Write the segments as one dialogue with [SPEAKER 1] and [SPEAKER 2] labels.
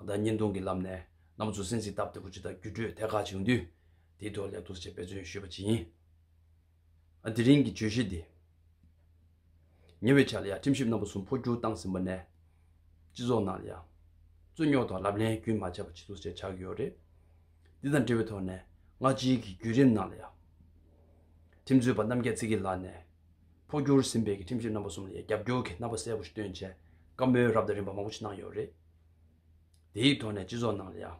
[SPEAKER 1] བདག་ཉིས་སྟོང་གི་ལམ་ནས་ནམ་བཟོ་སྲིན་གཟིགས་སྟབས་བདེ་པོ་ཅིག་དང་བརྒྱུད་སྤྲོད་ཐད་ཀར་བྱུང་དུས། དེའི་ཐོག་ལས་ཐོག་ཆེད་དཔེ་མཚོན་ཞུས་པ་ཇི་ཡིན། དེ་རིང་གི་བརྗོད་གཞི་འདི། ཉེ་བའི་ཆར་ལ་ཡང་ཁྲིམས་ཞིབ་རྣམ་པ་གསུམ་འཕོ་འགྱུར་བཏང་ཟིན་པ་ནས། སྤྱི་ཚོགས་ནང་ལ་ཡང། རྩོད་རྙོག་དང་ལབ་གླེང་རྒྱུན་མ་ཆད་པ་བྱེད་ཐུབ་སའི་ཆགས་ཡོད་རེད། འདི་དང་འབྲེལ་བའི་ཐོག་ནས་སྔ་ཕྱིའི་གི་བརྒྱུད་རིམ་ནང་ལ་ཡང། ཁྲིམས་རྩོད་པ་རྣམ་རྒྱལ་ཚེ་སྐྱིད་ལགས་ནས། འཕོ་འགྱུར་ཟིན་པའི་གི་ཁྲིམས་ཞིབ་རྣམ་པ་གསུམ་ལ་ཡང་རྒྱབ་སྐྱོར་གི་རྣམ་པ་གསལ་པོ་ཞིག་སྟོན་ཆེད་བཀའ་མོལ་རབ་དང་རིམ་པ་མང་པོ་ཞིག་གནང་ཡོད་རེད། དེའི་ཐོག་ནས་སྤྱི་ཚོགས་ནང་ལ་ཡང་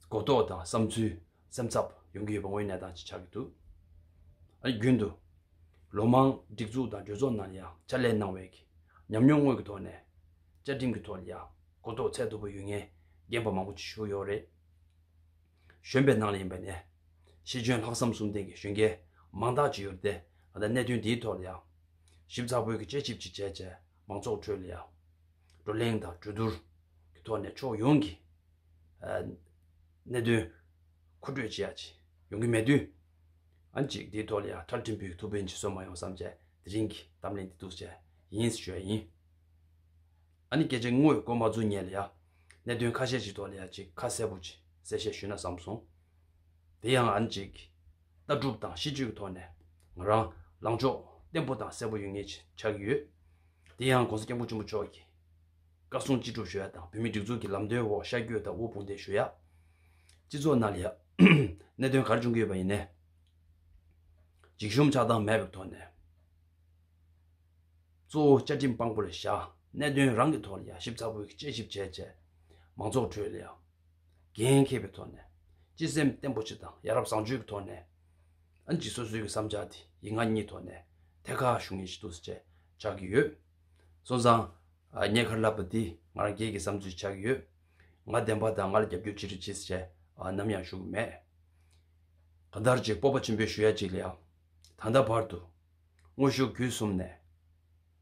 [SPEAKER 1] གོ་རྟོགས་དང་བསམ་ཚུལ་སེམས་འཚབ་ཡོང་གི་ཡོད་པ་དངོས་གནས་དང་ཆ་གི་འདུག་ཨ་རྒྱུན་དུ་ལོ་མང་སྒྲིག་འཛུགས་དང་གྲོས་ཚོགས་ནང་ལ་ཡང་ཕྱག་ལས་གནང་བའི་ཉམས་མྱོང་དངོས་ཀྱི་ཐོག་ནས་བཅའ་ཁྲིམས་ཀྱི་ཐོག་ལ་ཡང་གོ་རྟོགས་ཚད་མཐོ་པོ་ཡོད་ངེས་རྒན་པ་མང་པོ་བྱུང་ཡོད་རེད། གཞོན་པའི་ནང་ལ་ཡིན་པ་ནས་ཤེས་འཇོན་ལྷག་བསམ་གསུམ་ལྡན་གྱི་གཞོན་སྐྱེས་མང་དག་ཅིག་ཡོད་རེད་དེ། ད་ལྟ་གནད་དོན་དེའི་ཐོག་ལ་ཡང་ཞིབ་ཚགས་པོའི་གྱི་དཔྱད་ཞིབ་ཅིག་བྱས་རྗེས་མང་ཚོགས་ཁྲོད་ལ་ཡང་བགྲོ་གླེང་དང་གྲོས་བསྡུར་གྱི་ཐོག་ནས་ཕྱོགས་ཡོངས་ཀྱི་གནད་དོན་མཁོ་སྤྲོད་བྱེད་ཡག་ཡོང་གི་མེད་དུས་ཨ་མཆིག་དེའི་ཐོག་ལ་ཡང་ཁྲ་འབྲིང་པོའི་ཐུགས་ཕན་གྱི་སྲོལ་མ་ཡོང་བསམ་བྱས་དེ་རིང་གི་གཏམ་གླེང་འདི་ཐུགས་ཆེ་ཡིན་ཞུ་ཡ་ཡིན། ཨ་ནི་སྐད་ཆ་དངོས་ཡོད་སྐོར་མ་རྫུན་ཉན་ལ་ཡང་གནད་དོན་ཁ་ཤས་ཅིག་ཐོག་ལ་ཡང་ཅིག་ཁ་གསལ་པོ་ཅིག་གསལ་བཤད་ཞུས་ན་བསམ་སོང། དེ་ཡང་ཨ་མཆིག་གིས་ལྟ་གྲུབ་དང་གཤིས་སྤྱོད་ཀྱི་ཐོག་ནས་ང་རང་ལངས་ཕྱོགས་བརྟན་པོ་དང་གསལ་པོ་ཡོད་ངེས་ཆགས་ཀྱི་ཡོད། དེ་ཡང ྋགོང་ས་སྐྱབས་མགོན་ཆེན་པོ་མཆོག་གིས་བཀའ་གསུང་ཅི་སྒྲུབ་ཞུ་ཡག་དང་བོད་མིའི་སྒྲིག་འཛུགས་ཀྱི་ལམ་སྟོན་འོག་ཤར་བསྐྱོད་དང་དབུལ་ཕོངས་འདེད་ཞུ་ཡག། སྤྱི་ཚོགས་ནང་ལ་གནད་དོན་ག་རེ་བྱུང་གི་ཡོད་པ་ཡིན་ནའི། འཇིགས་ཞུམ་ཆགས་སྡང་མེད་པའི་ཐོག་ནས། གཙོ་བོ་བཅའ་ཁྲིམས་དཔང་པོ་ལ་བཞག་གནད་དོན་རང་གི་ཐོག་ལ་ཡར་ཞིབ་ཚགས་པོའི་དཔྱད་ཞིབ་བྱས་རྗེས། མང་ཚོགས་ཁྲོད་ལ་ཡང་འགན་མཁས་པའི་ཐོག་ནས་སྤྱི་སེམས་བརྟན་པོ་ཆེ་དང་ཡ་རབས་བཟང་སྤྱོད་ཀྱི་ཐོག་ནས་ཨན་ཇི་སོ་སོའི་གི་བསམ་འཆར་དེ་ཡི་ང་གཉིས་ཐོག་ནས་ཐད་ཁ་ཞུ་ངེས་ཞིག་འདུག་ཟེར་བཅས་ཆགས་ཀྱི་ཡོད། སོང་ཙང། ངས་ཁ་ལབ་པ་དེ་ང་རང་རྒྱལ་གྱི་བསམ་ཚུལ་ཆགས་ཀྱི་ཡོད། ང་བདེན་པ་དང་ང་ལ་རྒྱབ་སྐྱོར་ཅི་རིགས་བྱེད་ཟེར་བཅས་ནམ་ཡང་ཞུ་གི་མེད། གང་ལྟར་གཅིག་སྤོབས་པ་ཆེན་པོའི་ཞུ་ཡ་གཅིག་ལ་ཡང། ད་ལྟ་བར་དུ། དངོས་ཤུགས་བརྒྱུད་གསུམ་ནས།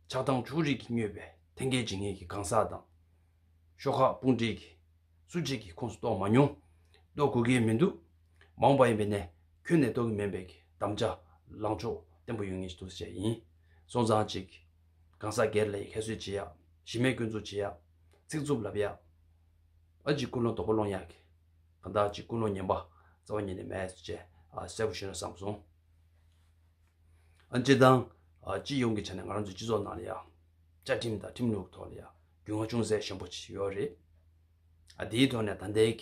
[SPEAKER 1] ཆགས་སྡང་ཕྱོགས་རིས་ཀྱིས་མྱོས་པའི་ཐན་སྐད་འབྱིན་ངེས་ཀྱི་གང་ཟག་དང། ཤོག་ཁག་དཔུང་སྦྲེལ་གྱིས་སུ་གཅིག་གི་ཁོངས་སུ་གཏོགས་མ་མྱོང། གཏོགས་དགོས་ཀྱི་མི་འདུག་མ་འོངས་པ་ཡིན་པའི་ནས་ཁྱོན་ནས་གཏོགས་ཀྱི་མིན་པའི་གདམ་བྱ་ལངས་ཕྱོགས་བརྟན་པོ་ཡོད་ངེས་ཞེས་དུ་བྱས་ཡིན། སོང་ཙང་ཅིག། གང་ཟག་སྒེར་ལ་ཡི་ཁ་གསོད་བྱེད་ཡག་གཞི་མེད་བསྐོན་འཛུགས་བྱེད་ཡག། ཚིག་རྩུབ་ལབ་ཡག། ཨ་ཅིག་ཀུན་སློང་དོག་པོ་སློང་ཡག་གི། གང་ལྟར་ཨ་ཅིག་ཀུན་སློང་ཉན་པ་རྩ་བ་ཉིད་ནས་མེད་ཅེས་གསལ་པོ་ཤོད་ན་བསམ་སོང། ཨ་ཅེ་དང། སྤྱི་ཡོངས་ཀྱི་ཆ་ནས་ང་རང་ཚོའི་སྤྱི་ཚོགས་ནང་ལ་ཡང། བཅའ་ཁྲིམས་དང་ཁྲིམས་ལུགས་གི་ཐོག་ལ་ཡང། རྒྱུས་མངའ་ཅུང་ཟད་ཞན་པོ་ཞིག་ཡོད་རེད། ཨ་དེའི་ཐོག་ནས་ད་ལྟའི་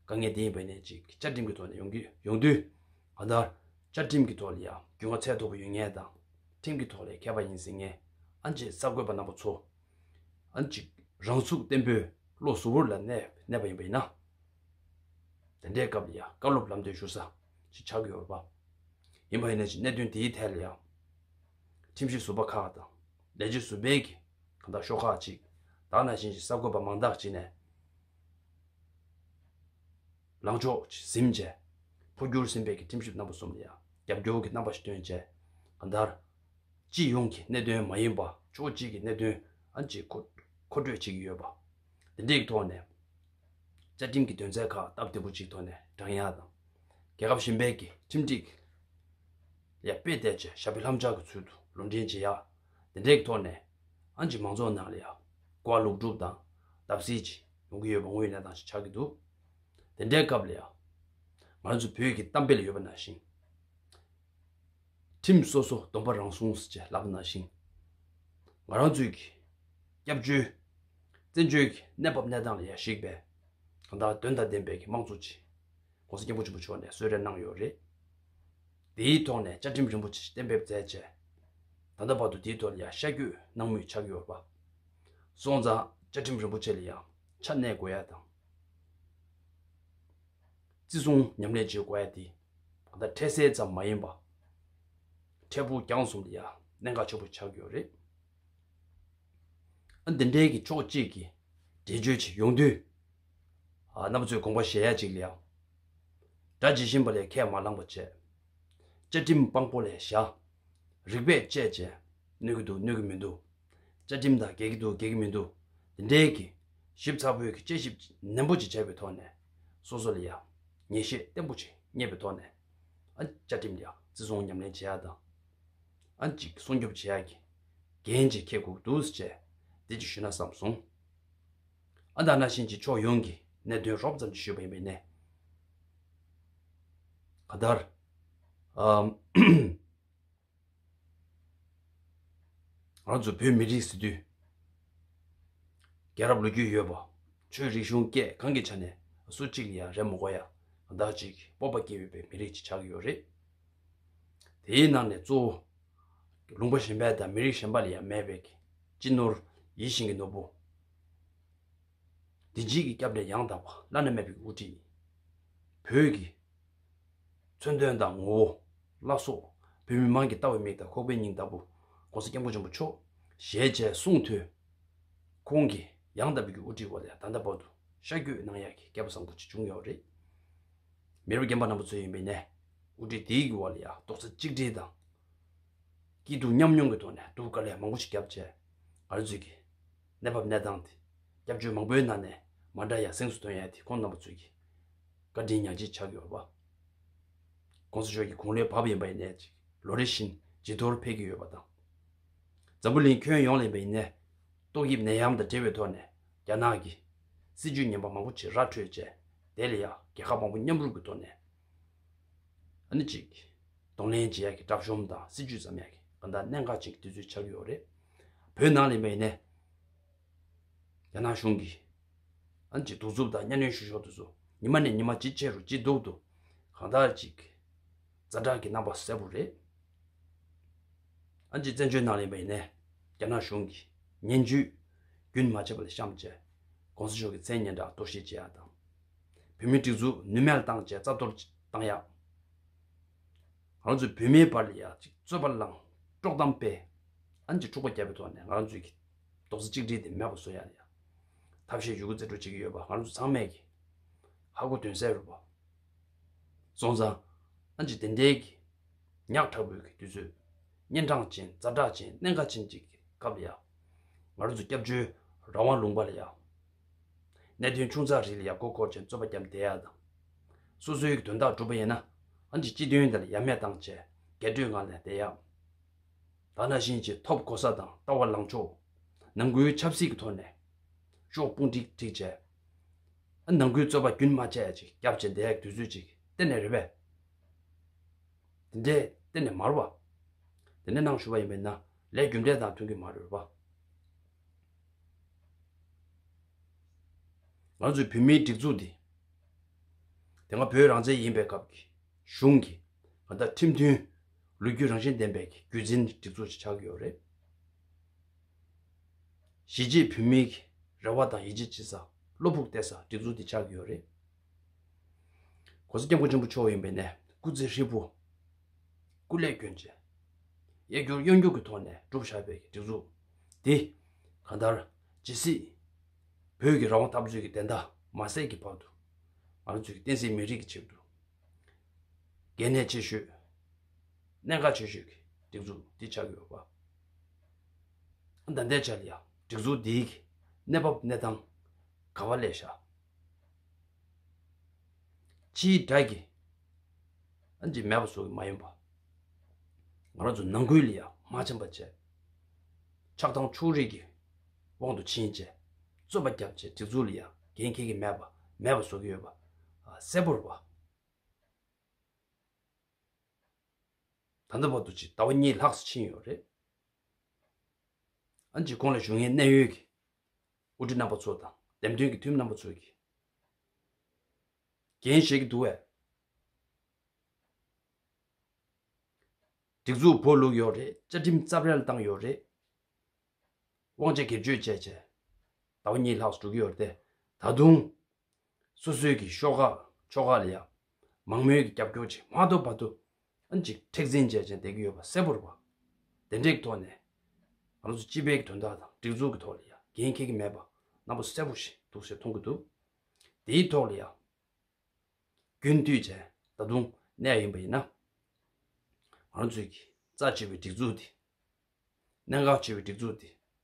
[SPEAKER 1] དཀའ་ངལ་དེ་ཡིན་པ་ནས་ཅིག་བཅའ་ཁྲིམས་ཀྱི་ཐོག་ནས་ཡོང་གི་ཡོང་དུས། གང་ལྟར། བཅའ་ཁྲིམས་ཀྱི་ཐོག་ལ་ཡང་རྒྱུས་མངའ་ཚད་མཐོ་པོ་ཡོད་ངེས་དང། ཁྲིམས་ཀྱི་ཐོག་ལས་ཁེ་བ་ཡིན་ཟེར་ངེས། ཨ་ཅེས་གསར་འགོད་པ་རྣམ་པ་ཚོ། ཨ་ཅིག་རང་ཚུགས་བརྟན་པོས་བློ་གཟུ་བོར་ལ་གནས་པ་ཡིན་པ་ཡིན་ན། དེ་འདྲའི་སྐབས་ལ་ཡང་བཀའ་སློབ་ལམ་སྟོན་ཞུ་ས་ཞིག་ཆགས་ཀྱི་ཡོད་པ་ཡིན་པ་ཡིན་ན་ཅིག་གནད་དོན་དེའི་ཐད་ལ་ཡང། ཁྲིམས་ཞིབ་ཟུར་པ་ཁག་དང་ལས་བྱེད་ཟུར་པའི་གི། གང་དག་ཤོག་ཁག་ཅིག་དག་ན་བཞིན་གྱི་གསར་འགོད་པ་མང་དག་ཅིག་ནས། ལངས་ཕྱོགས་ཀྱི་གཟིམ་བཅས། འཕོ་འགྱུར་སེམས་དཔས་ཀྱི་ཁྲིམས་ཞིབ་རྣམ་པ་གསུམ་ལ་ཡང་རྒྱབ་སྐྱོར་གྱི་རྣམ་པ་ཞིག་སྟོན་བྱས། གང་ལྟར། སྤྱི་ཡོངས་ཀྱི་གནད་དོན་མ་ཡིན་པ་ཕྱོགས་གཅིག་གི་གནད་དོན་ཨང་ཅིག་མཁོ་སྤྲོད་བྱེད་ཀྱི་ཡོད་པ། འདི་འདྲའི་ཐོག་ནས། བཅའ་ཁྲིམས་ཀྱི་དོན་ཚན་ཁག་སྟབས་བདེ་པོ་ཅིག་ཐོག་ནས་བགྲང་ཡས་དང། རྒྱལ་ཁབ་གཞན་པའི་ཀྱི་ཁྲིམས་སྒྲིག་ལས་དཔེ་བལྟས་ཀྱི་ཞབས་པའི་ལྷམ་ལྕགས་ཀྱི་ཚུལ་དུ་ལུང་འདྲེན་བྱེད་ཡས། དེ་འདྲའི་ཐོག་ནས་ཨན་གྱི་མང་ཚོགས་ནང་ལས་ཀ་ལུགས་སྒྲུབ་དང་བརྡབ་གསིག་ཅིག་ཡོང་གི་ཡོད་པ་དངོས་གནས་དང་ཞིག་ཆགས་ཀྱི་འདུག་དེ་འདྲའི་སྐབས་ལས་ང་ཚོ་བོད་ཀྱི་གཏམ་དཔེ་ལ་ཡོད་པ་ན་ཞིང་ཁྲིམས་སོ་སོ་སྡོམ་པ་རང་སྲུང་ཟེར་བྱས་ལབ་པ་ན་ཞིང་ང་རང་ཚོའི་གི་སྐྱབས་བཅོལ་བཙན་བྱོལ་གྱི་གནས་བབ་གནས་སྟངས་ལ་ཡར་གཞིགས་པས་གང་ལྟར་དོན་དང་ལྡན་པའི་གི་དམངས་གཙོ་ཆེད་གོང་ས་སྐྱབས་མགོན་ཆེན་པོ་མཆོག་ནས་གསོལ་རས་གནང་ཡོད་རེད། དེའི་ཐོག་ནས་བཅའ་ཁྲིམས་རིན་པོ་ཆེ་གཏན་འབེབས་མཛད་རྗེས། ད་ལྟ་བར་དུ་དེའི་ཐོག་ནས་ཡང་ཤར་སྐྱོད་གནང་མུས་ཆགས་ཡོད་པ། སོང་ཙང་བཅའ་ཁྲིམས་རིན་པོ་ཆེ་ལ་ཡང་ཆ་གནས་དགོས་ཡ་དང། བརྩི་སྲུང་ཉམས་ལེན་བྱེད་དགོས་ཡ་དེ་ག་ད་འཕྲལ་སེལ་ཙམ་མ་ཡིན་པ། འཕྲལ་ཕུགས་རྒྱང་གསུམ་ལ་ཡང་གནད་འགག་ཆེན་པོ་ཆགས་ཡོད་རེད། ཨ་འདི་འཕྲལ་གྱི་ཕྱོགས་གཅིག་གིས་འགྲེལ་བརྗོད་བྱེད་ཡོང་དུས། ཨ་ན་བུ་ཚོས་དགོངས་པ་བཞེས་ཡ་གཅིག་ལ་ཡང། སྒྲ་ཇི་བཞིན་པ་ལས་ཁས་མ་བླངས་པ་བཅས། བཅའ་ཁྲིམས་དཔང་པོ་ལས་བཞག། རིགས་པས་དཔྱད་བཅས། གནོད་ཀྱི་འདུག་གནོད་ཀྱི་མི་འདུག། བཅའ་ཁྲིམས་དང་འགལ་གྱི་འདུག་འགལ་གྱི་མི་འདུག་དེ་འདྲའི་གྱི། ཞིབ་ཚགས་པོའི་གྱི་དཔྱད་ཞིབ་ནན་པོ་ཅིག་བྱས་པའི་ཐོག་ནས། སོ་སོ་ལ་ཡང། ངེས་ཤེས་བརྟན་པོ་ཅིག་རྙེད་པའི་ཐོག་ནས། ཨ། བཅའ་ཁྲིམས་ཀྱི་ཨ་བརྩི་སྲུང་ཉམས་ལེན་བྱེད་ཡག་དང། ཨ། གཅིག་སྲུང་སྐྱོབ་བྱེད་ཡག་གི། འགན་ཅིག་འཁྱེར་དགོས་ཀྱི་འདུག་ཟེར་བཅས། བདེ་སྐྱིད་ཞུས་ན་བསམ་སོང། ཨ་མདའ་རྣ་ཤན་གྱི་ཕྱོགས་ཡོངས་ཀྱི་གནད་དོན་རོབ་ཙམ་ཞུས་པ་ཡིན་པས་ནས། ག་ལྟར། ང་ཚོ་བོད་མི་རིགས་སི་ཏུས། རྒྱལ་རབས་ལོ་རྒྱུས་ཡོད་པ། ཆོས་རིག་གཞུང་སྐད་གང་གི་ཆ་ནས་སུ་གཅིག་ལ་ཡང་རེ་མོ་གོ་ཡ་གདག་ཅིག་སྤོབས་པ་སྐྱེ་འོས་པའི་མི་རིགས་ཅིག་ཆགས་ཀྱི་ཡོད་རེད། དེའི་ནང་ནས་གཙོ་བོ། ལུང་པ་གཞན་པའི་དང་མི་རིགས་གཞན་པ་ལ་ཡང་མེད་པའི་སྤྱི་ནོར། ཡིད་བཞིན་གྱི་ནོར་བུ། བདེ་སྐྱིད་ཀྱི་སྐྱབས་གྲལ་ཡང་དག་པ་བླ་ན་མེད་པའི་དབུ་ཁྲིད། བོད་ཀྱི། མཚོན་དོན་དང་ངོ་བོ། བླ་སྲོག། བོད་མི་མང་གི་ལྟ་བའི་མིག་དང་ཁོག་པའི་སྙིང་ལྟ་བུ། ྋགོང་ས ྋསྐྱབས་མགོན་ཆེན་པོ་མཆོག། ཞེས་བྱའི་གསུང་ཐོས། ཁོང་གི་ཡང་དག་པའི་དབུ་ཁྲིད་འོག་ལ་ད་ལྟ་བར་དུ་ཤར་བསྐྱོད་གནང་ཡག་གི་སྐལ་པ་བཟང་པོ་ཅིག་བྱུང་ཡོད་རེད། མི་རབས་རྒན་པ་རྣམ་པ་ཚོའི་ཡོན་པའི་གནས། དབུ་ཁྲིད་དེ་ཡིག་གི་བར་ལ་ཡང་རྡོག་རྩ་གཅིག་སྒྲིལ་དང། སྐྱིད་སྡུག་མཉམ་མྱོང་གི་ཐོག་ནས་གདུགས་དཀར་ལས་མང་པོ་ཞིག་བརྒྱབ་རྗེས། ང་རང་ཚོས་ཀྱིས། གནས་བབ་གནས་སྟངས་དེ། སྐྱབས་བཅོལ་མང་པོའི་ནང་ནས་མ་འདྲ་ཡང་གཟེངས་སུ་ཐོན་ཡས་དེ་ཁོང་རྣམ་པ་ཚོས་ཀྱིས། བཀའ་དྲིན་མྱང་ཅི་ཆགས་ཀྱི་ཡོད་པ། ྋགོང་ས་མཆོག་གི་དགུང་ལོའི་བབ་ཡིན་པ་ཡིན་ནས་ཅིག་ལོ་རེ་བཞིན་ཇེ་མཐོར་འཕེལ་གྱི་ཡོད་པ་དང། འཛམ་བུ་གླིང་ཁྱོན་ཡོངས་ལ་ཡིན་པ་ཡིན་ནས། ཏོག་དབྱིབས་ནད་ཡམས་དང་འབྲེལ་བའི་ཐོག་ནས། རྒྱ་ནག་གི་སྲིད་ཇུས་ངན་པ་མང་པོ་ཆེ་ར་འཕྲོད་བཅས་དེ་ལ་ཡང་རྒྱལ་ཁབ་མང་པོ་མཉམ་རུབ་ཀྱི་ཐོག་ནས་ཨ་ནི་གཅིག་གདོང་ལེན་བྱེད་ཡག་གི་དྲག་གཞོམ་དང་སྲིད་ཇུས་ཟམ་ཡག་གི་གང་དག་གནད་འགག་ཅན་གྱི་དུས་ཚོད་ཆགས་ཀྱི་ཡོད་རེད། བོད་ནང་ལ་ཡིན་པ་ཡིན་ནས་རྒྱ་ནག་གཞུང་གིས་ཨ་ནི་གཅིག་གདུག་རྩུབ་དང་གཉའ་གནོན་ཞུ་ཞོར་དུ་སུ་ཉི་མ་ནས་ཉི་མ་ཇེ་ཆེ་རུ་ཇེ་སྡུག་ཏུ་གང་དག་ཅིག་རྩ་དྲག་གི་རྣམ་པ་གསལ་པོ་རེད། ཨན་གྱིས་བཙན་བྱོལ་ནང་ལེན་པ་ཡིན་ནས་རྒྱ་ནག་གཞུང་གིས་ངན་བྱུས་རྒྱུན་མ་ཆད་པ་ལ་གཤམ་བཅད ྋགོང་ས་མཆོག་གི་མཚན་སྙན་གྲགས་གཏོར་བཤིག་བྱེད་ཡག་དང། བོད་མིའི་སྒྲིག་འཛུགས་ནུས་མེད་ལ་བཏང་བཅས་རྩ་གཏོར་བཏང་ཡག། ང་རང་ཚོའི་བོད་མིའི་བར་ལ་ཡག་ཅིག་རྩོད་པ་བསླངས་དཀྲོག་གཏམ་སྤེལ། ཨན་གྱིས་འཁྲུག་པ་བརྒྱབ་པའི་ཐོག་ནས་ང་རང་ཚོའི་གི་རྡོག་རྩ་གཅིག་སྒྲིལ་དེ་མེད་པ་བཟོ་ཡག་ཡག། ཐབས་ཤེས་ཡོད་རྒུ་རྩེ་སྤྲོད་བྱེད་ཀྱི་ཡོད་པ་ང་རང་ཚོ་ཚང་མས་གི་ཧ་གོ་དོན་གསལ་རུ་བ། སོང་ཙང། ཨ་ཅེ་དེ་འདྲའི་གི། ཉག་ཕྲ་བོའི་གི་དུས་ཚོད། གཉན་འཕྲང་ཅན་རྩྭ་བྲག་ཅན་གནས་འགའ་ཅན་གྱི་གི་སྐབས་ལ་ཡ། ང་རོ་ཚོ་སྐྱབས་བཅོལ་རང་དབང་ལུང་པ་ལ་ཡ། གནད་དོན་ཆུང་ཙག་རིགས་ལ་ཡ་མགོ་སྐོར་ཅན་རྩོད་པ་རྒྱབ་འདེད་ཡ་དང། སོ་སོའི་གི་དོན་དག་འགྲུབ་པ་ཡིན་ན། ཨ་ཅེ་སྤྱི་དོན་དེ་ལ་ཡ་མེད་དང་བཅས་རྒྱས་སྤྲོས་ངང་ལས་འདེད་ཡ། ད་ན་བཞིན་གྱི་ཐོབ་གོ་ས་དང་ལྟ་བ་ལངས་ཕྱོགས། ནང་ཁུལ་ཆབ་སྲིད་ཀྱི་ཐོག་ནས། ཤོག་དཔུང་བསྒྲིགས་བསྒྲིགས་བྱས། ནང་ཁུལ་རྩོད་པ་རྒྱུན་མ་ཆད་ཅིག་བརྒྱབ་བྱས་འདས་དུས་ཚོད་ཅིག་གཏན་ནས་རེད་པས། དེ་འདྲའི་གཏན་ནས་མ་རུ་བ། དེ་འདྲའི་ནང་ཞུགས་པ་ཡིན་པས་ན་ལས་རྒྱུ་འབྲས་དང་མཐུན་གི་མ་རེད་པ། ང་ཚོའི་བོད་མིའི་སྒྲིག་འཛུགས་འདི། དེ་སྔ་བོད་རང་བཙན་ཡིན་པའི་སྐབས་ཀྱི་གཞུང་གི་ང་ལྟར་ཁྲིམས་མཐུན། ལོ་རྒྱུས་རང་བཞིན་ལྡན་པའི་རྒྱུད་འཛིན་སྒྲིག་འཛུགས་ཅིག་ཆགས་ཀྱི་ཡོད་རེད། གཞིས་བྱེས་བོད་མིའི་གི་རེ་བ་དང་ཡིད་ཆེས་བྱེད་ས་བློ་ཕུགས་གཏད་ས་སྒྲིག་འཛུགས་དེ་ཆགས་ཀྱི་ཡོད་རེད། གོང་ས་སྐྱབས་མགོན་ཆེན་པོ་མཆོག་ཡིན་པའི་ནས་སྐུ་ཚེ་ཧྲིལ་པོ། སྐུ་ལས་སྐྱོན་ཅན། གཡས་སྐྱོར་གཡོན་སྐྱོར་གྱི་ཐོག་ནས་བསྒྲུབས་བཞག་པའི་གི་སྒྲིག་འཛུགས་དེ། གང་ལྟར། ཇི་སྲིད། བོད་ཀྱི་རང་དབང་འཐབ་རྩོད་ཀྱི་བདེན་མཐའ་མ་གསལ་གྱི་བར་དུ། ང་རང་ཚོས་ཀྱི་བསྟན་སྲིད་མི་རིགས་ཀྱི་ཆེད་དུ། འགན་གནད་ཆེ་ཤོས། གནད་འགག་ཆེ་ཤོས་ཀྱི་སྒྲིག་འཛུགས་དེ་ཆགས་ཀྱི་ཡོད་པ། བདག་འདས་ཅར་ཡང་སྒྲིག་འཛུགས་འདིའི་གནས་བབ་གནས་སྟངས་ག་བ་ལས་ཤར། སྤྱིའི་དགྲ་གི་ཨ་འདྲིས་མེད་པ་སོགས་ཀྱི་མ་ཡིན་པ། ང་རང་ཚོ་ནང་ཁུལ་ལ་ཡང་མ་ཕྱིན་པ་བཅས། ཆགས་སྡང་ཕྱོགས་རིས་ཀྱི་དབང་དུ་ཕྱིན་བཅས་རྩོད་པ་བརྒྱབ་བཅས་སྒྲིག་འཛུགས་ལ་ཡང་འགན་འཁྱེར་གྱི་མེད་པ་མེད་པ་བཟོ་གི་ཡོད་པ་གསལ་པོར་བ། ད་ལྟ་བར་དུ་ཇི་ལྟ་བ་གཉིས་ལྷགས་སུ་ཕྱིན་ཡོད་རེད། ཨ་ཇི་ཁོང་ལ་བཞུགས་ངེས་གནད་ཡོད་ཀྱི་དབུ་ཁྲིད་རྣམ་པ་ཚོ་དང་འདེམས་ཐོན་གྱི་འཐུས་མི་རྣམ་པ་ཚོས་ཀྱི་འགན་བཞེས་ཀྱི་འདུག་བས། སྒྲིག་འཛུགས་བོར་བླུགས་ཡོད་རེད་བཅའ་ཁྲིམས་རྩབ་རལ་བཏང་ཡོད་རེད། དབང་ཆ་སྒེར་གཅོད་བྱས་བྱས་ཟླ་བ་གཉིས་ལྷགས་སུ་འགྲོ་གི་ཡོད་རེད་དེ། ད་དུང། སོ་སོའི་གི་ཤོག་ཁག་ཕྱོགས་ཁག་ལ་ཡང་མང་མོས་ཀྱི་རྒྱབ་སྐྱོར་ཆེད་མ་ཏོ་བ་ཏོ་ཨན་གྱི་མཁྲེགས་འཛིན་བྱས་ཅན་བསྡད་ཀྱི་ཡོད་པ་གསལ་པོར་བ། དེ་འགྲེགས་ཐོག་ནས་ང་ཚོ་སྤྱི་པའི་གི་དོན་དག་དང་སྒྲིག་འཛུགས་ཀྱི་ཐོག་ལ་ཡང་འགན་འཁྱེར་གྱི་མེད་པ་རྣམ་པ་གསལ་པོ་ཞིག་འདུག་ཞེས་མཐོང་གི་འདུག་དེའི་ཐོག་ལ་ཡང་རྒྱུན་མཐུད་ཅན་ད་དུང་གནས་ཡིན་པ་ཡིན་ན། ང་ཚོའི་གི་རྩ་ཆེ་བའི་སྒྲིག་འཛུགས་འདི། གནད་འགག་ཆེ་བའི་སྒྲིག་འཛུགས་འདི།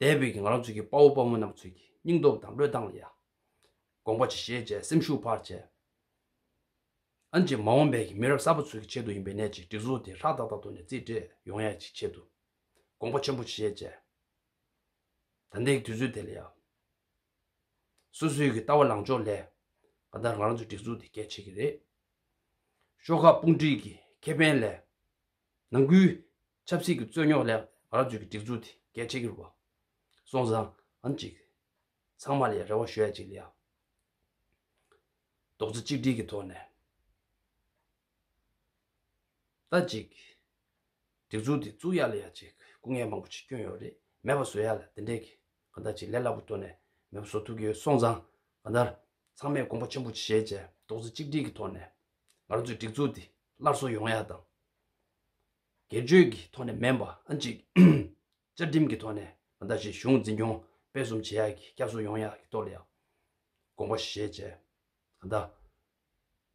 [SPEAKER 1] དད་པའི་གིང་རང་ཚུལ་གྱི་དཔའ་བོ་དཔའ་མོ་རྣམས་ཚུལ་གྱི་སྙིང་སྟོབས་དང་བློས་བཏང་ལ་ཡང། དགོངས་པ་ཆེ་བཞེས་བཅས་སེམས་ཤུགས་འཕར་བཅས། ཨན་ཅེ་མ་འོངས་པའི་གི་མི་རབས་གསར་པ་ཚུལ་གྱི་ཆེད་དུ་ཡིན་པའི་གནད་ཀྱི་སྒྲིག་འཛུགས་དེ་ཧྲག་ཏག་ཏག་ཏུ་ནས་རྩིས་སྤྲད་ཡོང་ཡས་ཀྱི་ཆེད་དུ་དགོངས་པ་ཆེན་པོ་ཆེ་བཞེས་བཅས། ད་ལྟའི་གི་དུས་ཚོད་དེ་ལ་ཡང། སོ་སོའི་གི་ལྟ་བ་ལངས་ཕྱོགས་ལས། ག་ད་ང་རང་ཚོའི་སྒྲིག་འཛུགས་དེ་གལ་ཆེ་གི་རེད། ཤོག་ཁག་དཔུང་སྒྲིག་གི་ཁེ་ཕན་ལས། ནང་ཁུལ་ཆབ་སྲིད་ཀྱི་རྩོད་རྙོག་སླད་རང་བྱུང་གི་སྒྲིག་འཛུགས་དེ་གལ་ཆེ་གྱུར་བ། སོང་ཙང་ཨམ་ཅིག། ཚང་མ་ལས་རེ་བ་ཞུ་ཡ་ཅིག་ལ་ཡང། རྡོག་རྩ་གཅིག་སྒྲིལ་གྱི་ཐོག་ནས། ད་ཅིག། སྒྲིག་འཛུགས་དེ་བཙུགས་ཡ་ལ་ཡ་ཅིག་སྐུ་ངལ་མང་པོ་ཆེ་སྐྱོན་ཡོད་རེད་མེད་པ་བཟོ་ཡ་ལ་དེ་འདྲས་ཀྱི་གང་ད་ཅིག་ལས་སླ་པོ་བཏོན་ནས་མེད་པ་བཟོ་ཐུབ་ཀྱི་ཡོད་སོང་ཙང་གང་ད། ཚང་མས་དགོངས་པ་ཆེན་པོ་བཞེས་བྱས་རྡོག་རྩ་གཅིག་སྒྲིལ་གྱི་ཐོག་ནས། ང་རང་ཚོའི་སྒྲིག་འཛུགས་དེ་སླར་གསོ་ཡོང་ཡ་དང། སྒེར་གཅོད་ཀྱི་ཐོག་ནས་མེ་འབར་གཅིག། བཅའ་ཁྲིམས་ཀྱི་ཐོག་ནས་མ་འདའ་ཞིང་གཞུང་འཛིན་སྐྱོང་སྤེལ་གསུམ་བྱེད་ཡག་གི་སྐྱབས་སུ་ཡོང་ཡག་གི་གཏོར་ཡག་དགོངས་པ་བཞེས་བཅས་མ་འདའ།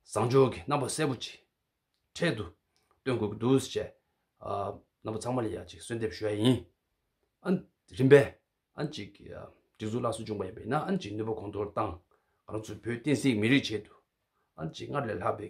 [SPEAKER 1] བཟང་ཕྱོགས་ཀྱི་རྣམ་པ་གསལ་པོ་ཅིག་འཕྲལ་དུ་སྟོན་དགོས་ཀྱི་འདུག་ཅེས་རྣམ་པ་ཚང་མ་ལ་ཡང་ཅིག་གསོལ་འདེབས་ཞུ་བ་ཡིན། རིམ་པས་ཅིག་སྒྲིག་འཛུགས་སླར་གསོ་བྱུང་བ་ཡིན་པས་ན་ཅིག་ནུས་པ་གོང་མཐོར་བཏང་ང་ཚོ་བོད་བསྟན་སྲིད་མི་རིགས་ཆེད་དུ་ཅིག་སྔར་ལས་ལྷག་པའི